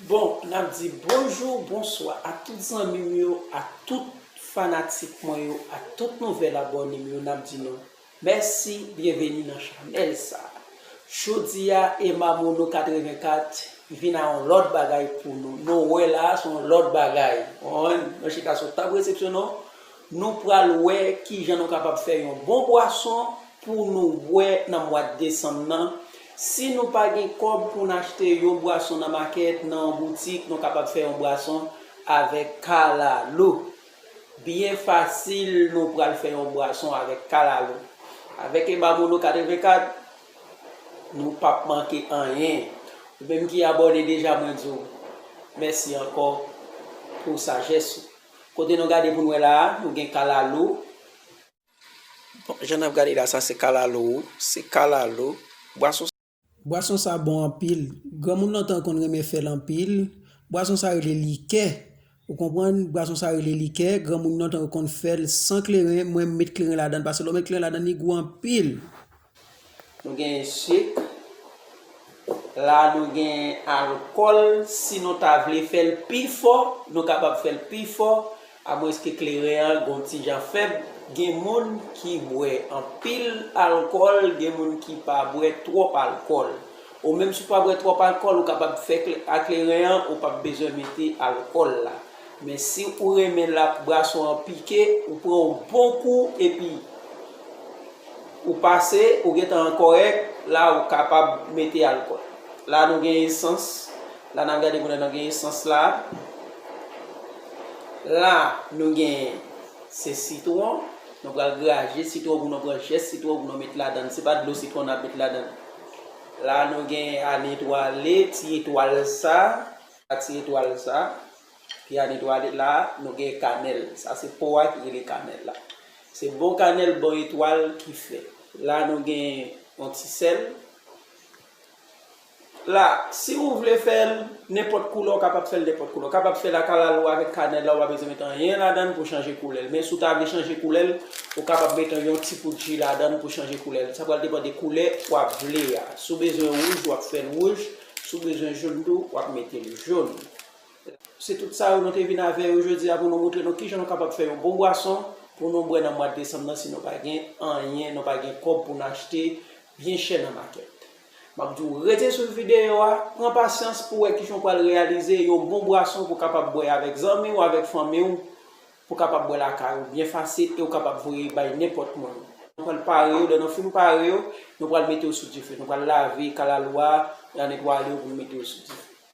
Bon nap di bonjour bonswa ak tout zanmim yo ak tout fanatik mwen yo ak tout nouvel abonem yo nap di nou Mèsi byenveni nan chanèl sa. Jodi a Emma Mono 84 vin a yon lòt bagay pou nou, nou wè la a se yon lòt bagay konprann, nan chita sou tab resepsyon nou, nou pral wè kijan nou kapab fè yon bon bwason pou nou bwè nan mwad desanm nan, si nou pa gen kòb pou n achte yon bwason nan makèt, nan yon boutik nou kapab fè yon bwason avèk kalalou. Byen fasil nou pral fè yon bwason avèk kalalou. Avèk Emma Mono 84 nou pap manke anyen. Ou menm ki abòne deja mwen di w mèsi ankò pou sajès ou. Kote nou gade pou n wè la a, nou gen kalalou. Bon, jan n ap gade la sa se kalalou, se kalalou. Bwason sa. Bwason sa bon anpil. Granmoun lontan konn renmen fèl anpil. Bwason sa rele likè. Ou konprann? Bwason sa rele likè. Granmoun lontan yo konn fèl san kleren. Mwen m met kleren ladann pase lè w met kleren ladann li gou anpil. Nou gen sik. La nou gen alkòl. Si nou ta vle fèl pi fò, nou kapab fèl pi fò. Amwenske kleren an gen yon ti jan fèb, gen moun ki bwè anpil alkòl, gen moun ki pa bwè twòp alkòl. Ou menm si w pa bwè twòp alkòl, ou kapab fè a kleren an, ou pap bezwen mete alkòl la. Men si ou renmen l ap brason an pike, ou pran yon bon kou epi ou pase, ou gen tan an kòrèk, la ou kapab mete alkòl. La nou gen esans, la n ap gade moulen nan gen esans la. La nou genyen se sitwon, nou pral graje sitwon pou nou pran jès sitwon pou nou met ladan l, se pa dlo sitwon n ap met ladan l. La nou genyen a netwale ti etwal sa, a ti etwal sa ki a netwale, la nou genyen kanèl, sa se po a ki rele kanèl la. Se bon kanèl bon etwal ki fè. La nou genyen yon ti sèl. La, si ou vle fè l nenpòt koulè ou kapab fè l nenpòt koulè. Ou kapab fè l ak alalou a, avèk kanèl la, ou pa bezwen met anyen ladan l pou chanje koulè l. Men si ou ta vle chanje koulè l, ou kapab met yon yon ti poud ji ladan l pou chanje koulè l. Sa pral depan de koulè ou ap vle a. Si w bezwen wouj, w ap fè l wouj. Si w bezwen jòn tou, w ap mete l jòn. Se tout sa yo nou te vin avè yo jodi a pou nou moutre nou kijan nou kapab fè yon bon bwason pou nou bwè nan mwad desanm nan si nou pa gen anyen, nou pa gen kòb pou nou achte byen chè nan makèt. Map di w rete swiv videyo a, pran pasyans pou wè kijan w pral reyalize yon bon bwason pou kapab bwè avèk zanmi w, avèk fanmi w, pou kapab bwè lakay ou byen fasil e ou kapab voye bay nenpòt moun. Nou pral pare yo, lè nou fin pare yo, nou pral mete yo sou dife. Nou pral lave kalalou a, nan netwaye yo pou nou mete yo sou dife.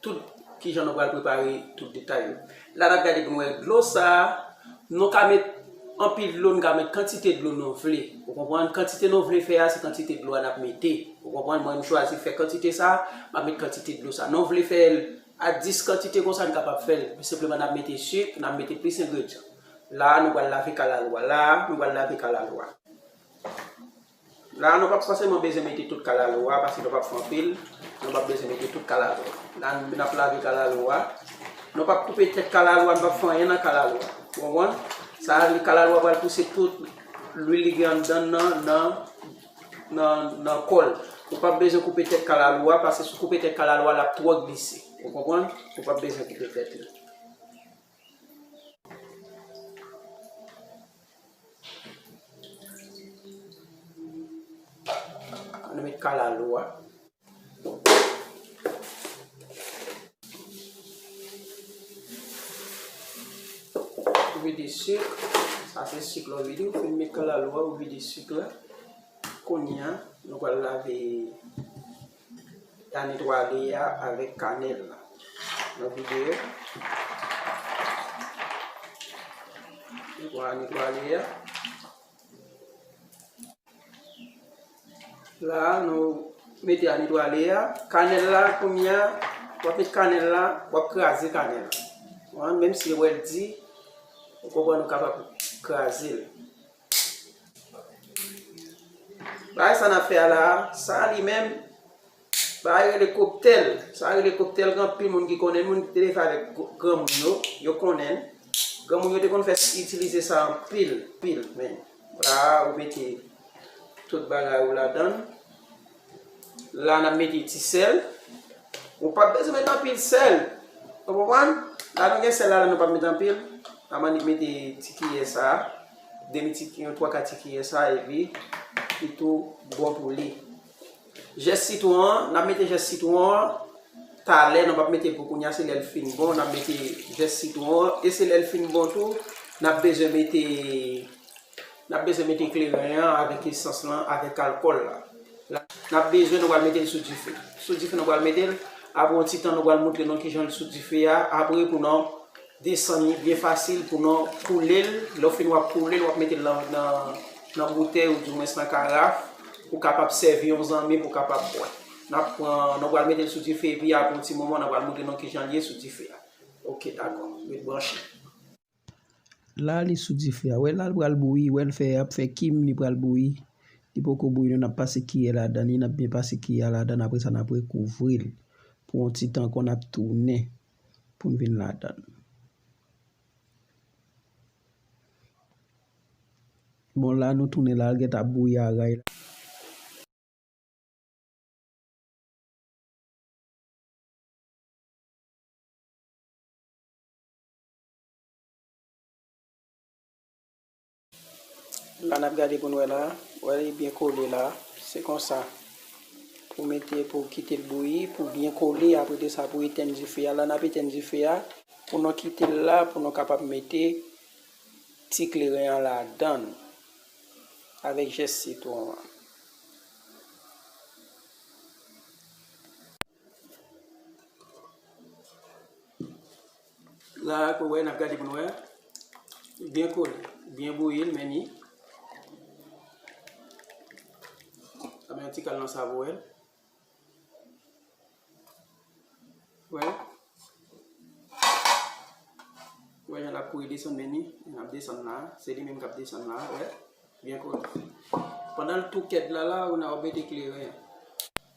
Tout, kijan nou pral prepare tout detay yo. La nap gade pou n wè dlo sa, nou ka met anpil dlo, nou ka met kantite dlo nou vle. Ou konprann? Kantite nou vle fè a, se kantite dlo a nap mete. Ou konprann? Mwen m chwazi fè kantite sa, map met kantite dlo sa. Nou vle fè l a 10 kantite konsa, n kapab fè l. Senpleman nap mete sik, nap mete plis engredyan. La a nou pral lave kalalou a. La a, nou pral lave kalalou a. La a nou pap fòseman bezwen mete tout kalalou a paske nou pap fè anpil, nou pap bezwen mete tout kalalou a. La a nou ap lave kalalou a, nou pap koupe tèt kalalou a, nou pap fè anyen nan kalalou a. Ou konprann? Sa a li kalalou a pral pouse tout lwil li gen anndan nan nan kò l. Ou pap bezwen koupe tèt kalalou a paske si w koupe tèt kalalou a l ap twò glise. Ou konprann? Ou pap bezwen koupe tèt li. Annou met kalalou a. Ou vide sik. Sa se sik la ou vide. Ou fin met kalalou a, ou vide sik la. Konya, nou pral lave. ta netwaye a avèk kanèl la nan videyo netwaye netwaye a la nou mete a netwaye a kanèl la koumya wap met kanèl la wap kraze kanèl la menm si wèl di ou konpwa nou kapap kraze l Bagay sa nap fè a la sa li menm Bagay rele koktel sa rele koktel gen anpil moun ki konnen moun ki te fè avèk granmoun yo yo konnen granmoun yo te konn fè itilize sa anpil pil men la ou mete tout bagay ou ladann. La n ap mete ti sèl. Ou pap bezwen mete anpil sèl. Ou konprann? La nou gen sèl la nou pap mete anpil. N ap annik mete ti kiyè sa a. Demi ti kiyè, yon twa ka ti kiyè sa a epi li tou bon pou li. Jès sitwon an, n ap mete jès sitwon an talè. Nou pap mete l pou kounya. Se lè l fin bon n ap mete jès sitwon an. E se lè l fin bon tou n ap bezwen mete. N ap bezwen mete kleren an avèk esans lan avèk alkòl la. N ap bezwen nou pral mete l sou dife. Sou dife nou pral mete l. Apre yon ti tan nou pral montre nou kijan l sou dife a. Apre pou nan desann li byen fasil pou nan koule l. Lè w fin w ap koule l w ap mete l nan boutèy ou di mwens nan karaf pou kapab sèvi yon zanmi pou kapab bwè. N ap pran, nou pral mete l sou dife epi apre yon ti moman nan pral montre nou kijan l ye sou dife a. Ok dakò. Ret branche. La li sou dife a. Wè la li pral bouyi. Wè l fè ap fè kim li pral bouyi. Li poko bouyi nou nap pase kiyè ladan li nap byen pase kiyè a ladan apre sa nap rekouvri l pou yon ti tan ankò nap tounen pou n vin ladan l. Bon la nou tounen la li gentan ap bouyi aray la. La nap gade pou n wè la. Wè li byen kole la. Se konsa. Pou mete pou kite l bouyi. Pou byen kole apre de sa pou etenn dife a. La nap etenn dife a. Pou nou kite l la pou nou kapab mete ti kleren an ladan l. Avèk jès sitwon an. La ak wè nap gade pou nou wè. Byen kol, byen bouyi l men ni. Ame yon ti kal nan savo el. Wè. Wè yon lap kouye desan men ni. Yon ap desan la. Se li menm kap desan la. Wè. Byen kol. Pendan l tou kèd la la ou nan obete kleren.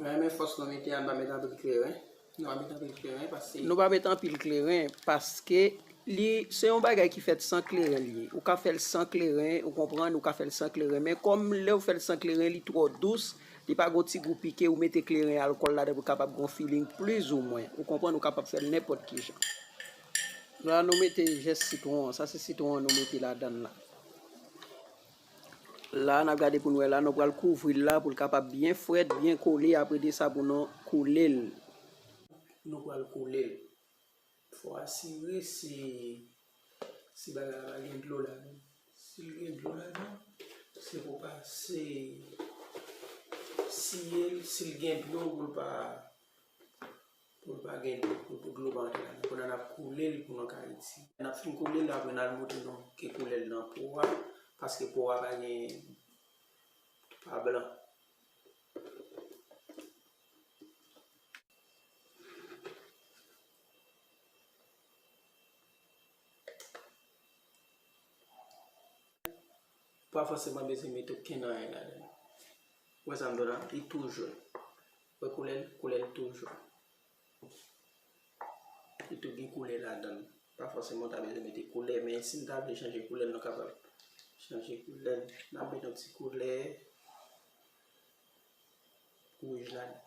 Mwen renmen fòs nou mete a nou pa met anpil kleren. Nou pa met anpil kleren paske. Nou pa met anpil kleren paske li se yon bagay ki fèt san kleren li ye. Ou ka fèl san kleren, ou konprann, ou ka fèl san kleren. Men kòm lè ou fèl san kleren li twò dous, li pa gon ti gou pike ou mete kleren alkòl ladan pou kapab gon feeling pliz ou mwen. Ou konprann ou kapab fèl nenpòt ki jan. La nou mete jès sitwon an, sa se sitwon an nou mete ladan la. La nap gade poun wè la nou pral kouvril la poul kapab byen frèt byen kole apre de sa pou nou koulel nou pral koulel fò asire se si bagay la pa gen dlo ladan sil gen dlo ladan se pou pase siyel sil gen dlo poul pa. Pou l pa gen dlo, pou dlo pa antre ladan. Kounye a n ap koule l pou nou k Ayiti. N ap fin koule l apre n al montre nou ke koulè l nan po a, paske po a pa gen pa blan. Ou pa fòseman bezwen mete okenn anyen ladan l. Ou wè sa m di w la? Li tou joun. Ou wè koulè l? Koulè l tou joun. Li tou gen koulè ladan l. Pa fòseman ou ta bezwen mete koulè, men si n ta vle chanje koulè l, nou kapab chanje koulè l. N ap mete yon ti koulè wouj ladan l.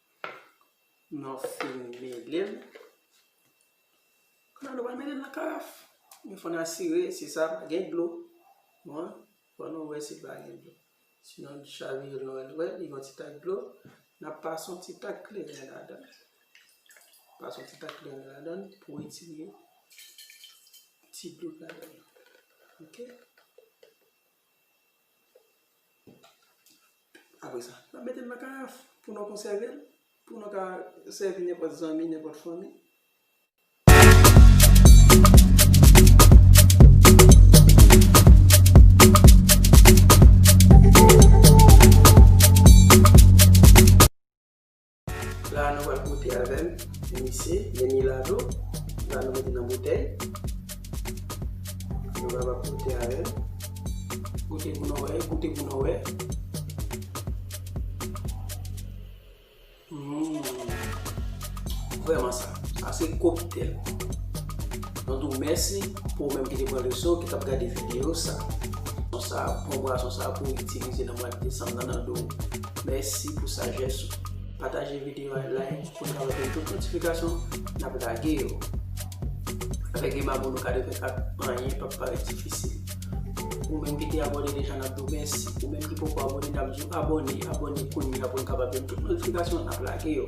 Nou fin mele l. Kounya nou pral mele l nan karaf. Men fò n asire si sa pa gen dlo. Bon, fò nou wè si l pa gen dlo. Sinon n chavire l nou wè. Nou wè li gen yon ti tak dlo. N ap pase yon ti tak kleren ladan l. Pase yon ti tak kleren ladan l pou retire ti dlo k ladan l lan. Ok. Apre sa, n ap mete l nan karaf pou nou konsève l, pou nou ka sèvi nenpòt zanmi, nenpòt fanmi. La a nou pral goute avè m pou misye, men milado la nou mete nan boutèy. Nou pral ap goute avè l. Goute pou nou wè, goute pou nou wè. Humm. Vreman sa. Sa se koktel. Mwen di w mèsi pou ou menm ki te pran le son, ki t ap gade videyo sa. Sa bon bwason sa pou itilize nan mwa desanm nan nan do w. Mèsi pou sajès ou. Pataje video a like pou n kapab gen tout notifikasyon nap lage yo. Avèk gen babou nou ka defen kap anyen pap parèt difisil. Ou menm ki te abone deja nap diw mèsi. Ou menm ki poko abone nap diw abone, abone kounya pou n kapab gen tout notifikasyon nap lage yo.